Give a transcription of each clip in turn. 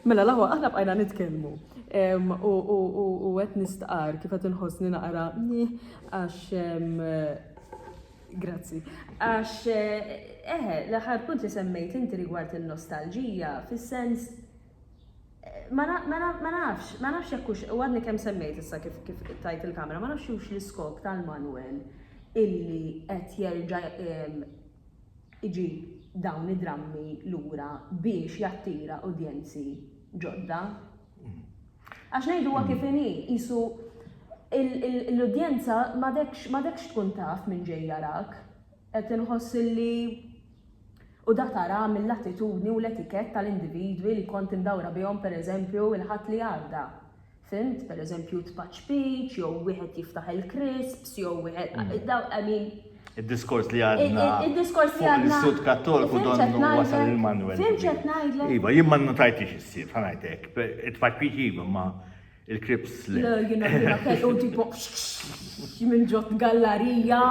Mela l-aħwa aħna bqajna nitkellmu u qed nistqar kif qed inħossni naqra nih għax Grazzi. Għax, eħe, eh, l-aħħar punt li semmejt inti rigward il-nostalġija, fis-sens ma nafx, ma nafx jekk hux u għadni kemm semmejt issa kif kif tajt il-kamera, ma nafx hux l-iskop tal-Manuel illi qed jerġa' iġib dawn id-drammi lura biex jattira udjenzi ġodda. Għax ngħiduha kif inhi, qisu l-udjenza m'għadekx tkun taf min ġej jarak, qed inħoss li u da tara mill-attitudni u l-etikett tal-individwi li kont imdawra bihom pereżempju l-Ħadd li għadda. Fhimt? Pereżempju tpaċpiċ jew wieħed jiftaħ il-crisps jew wieħed dawn I mean. Id-diskors li għadna. Id-diskors li għadna. Is-Sud Kattolku donnu wasal il-manwel. Fhimt x'qed ngħidlek? Iva, jien ma nnutajtix is-sir, ħa ngħid hekk. It-tpaċpiċ iva ma il-crisps le. Le, jiena jiena kellu tipo minn ġott gallarija.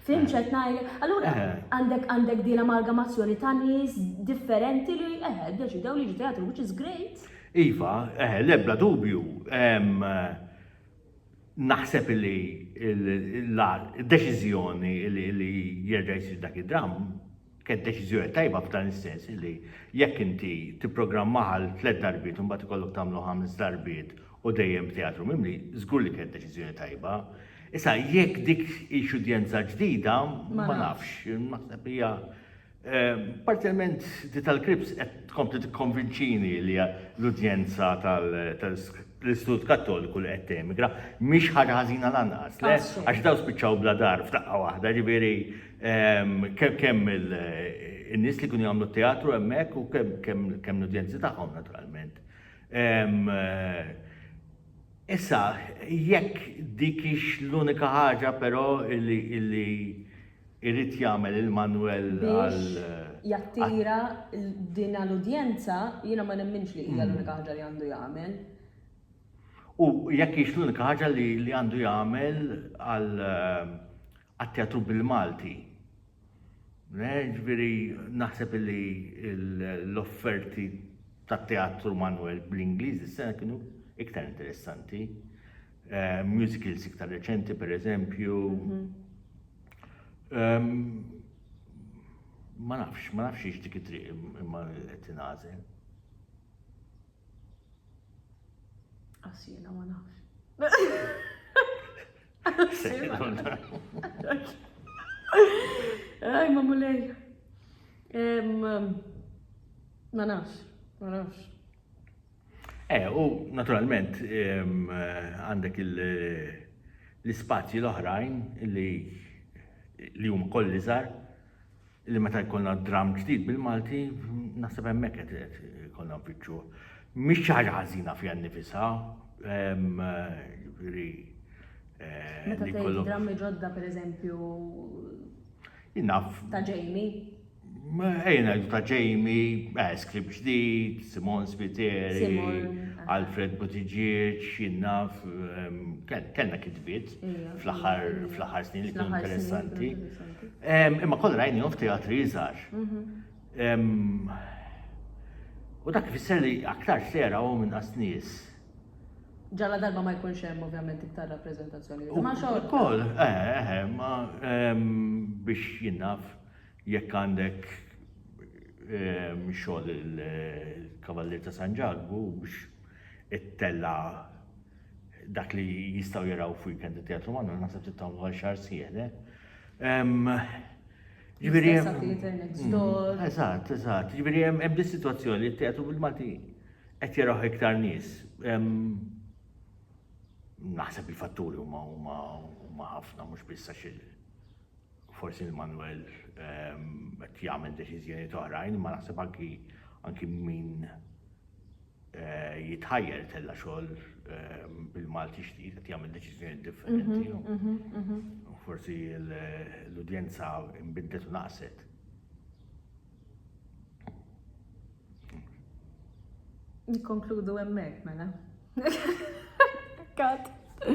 Fhimt x'qed ngħidlek? Allura għandek għandek din amalgamazzjoni ta' nies differenti li eħe ddeċidew li jiġu teatru which is great. Iva, eħe, l-ebda dubju. Naħseb illi d-deċiżjoni illi jerġa' jsir dak id-dramm kienet deċiżjoni tajba f'dan is-sens illi jekk inti tipprogrammah għal tliet darbiet u mbagħad ikollok tagħmlu ħames darbiet u dejjem b'teatru mimli, żgur li kienet deċiżjoni tajba. Issa jekk dik hix udjenza ġdida, ma nafx. Naħseb hija Parzjalment di tal-Krieps qed tkompli tikkonvinċini li l-udjenza tal-Istitut Kattoliku li qed temigra mhix ħaġa ħażina lanqas, le? Għax dawn spiċċaw bla dar f'daqqa waħda, jiġifieri kemm in-nies li kienu jagħmlu t-teatru hemmhekk u kemm l-udjenzi tagħhom naturalment. Issa, jekk dik hix l-unika ħaġa però li Irid jagħmel il-manwel għal. Biex jattira dina l-udjenza, jiena ma nemminx li hija l-unika ħaġa li għandu jagħmel. U jekk hix l-unika ħaġa li għandu jagħmel għat-teatru bil-Malti. Ġifieri naħseb li l-offerti tat-teatru manwel bl-Ingliż is-sena kienu iktar interessanti. Eh, musicals iktar reċenti, per eżempju, mhm. Ma nafx, ma nafx ix dik it-triq imma qed tingħażel. Għas jiena ma nafx. Aj, ma mulej. Ma nafx, ma nafx. Eh, u naturalment għandek l-ispazji l-oħrajn li li huma koll iżgħar li meta jkollna dram ġdid bil-Malti naħseb hemmhekk qed ikollna nfittxu. Mhix xi ħaġa ħażina fiha nnifisha, jiġifieri eh, Meta tgħid drammi ġodda pereżempju ta' ġejni. Ejja ngħidu ta' Jamie, Escrib ġdid, Simon Spiteri, Alfred Buttigieg, jinnaf, kellna kitbiet fl-aħħar snin li kienu interessanti. Imma kollha rajnihom f'teatri iżgħar. Mhm. U dak ifisser li aktar sera u minn qas nies. Ġalla darba ma jkunx hemm ovvjament iktar rappreżentazzjoni. Ma xogħol. Ukoll, eħe, eħe, ma biex jinnaf. Jekk għandek xogħol il-Kavallier ta' San Ġakbu biex ittella' dak li jistgħu jaraw f'weekend it-Teatru Mannu, naħseb trid tagħmlu għal xahar sieħ, le? Ġifieri hemm. Eżatt, eżatt. Ġifieri hemm hemm dis-sitwazzjoni li t-teatru bil-Malti qed jaraw iktar nies. Naħseb il-fatturi huma huma huma ħafna mhux biss għax forsi lil Manwel qed jagħmel deċiżjonijiet oħrajn, imma naħseb anki anki min eh, jitħajjel tella xogħol eh, bil-Malti xtid qed jagħmel deċiżjonijiet differenti. Mhm, mhm, mhm. u Forsi l- l-udjenza imbidlet u naqset. Nikkonkludu hemmhekk mela. Kat.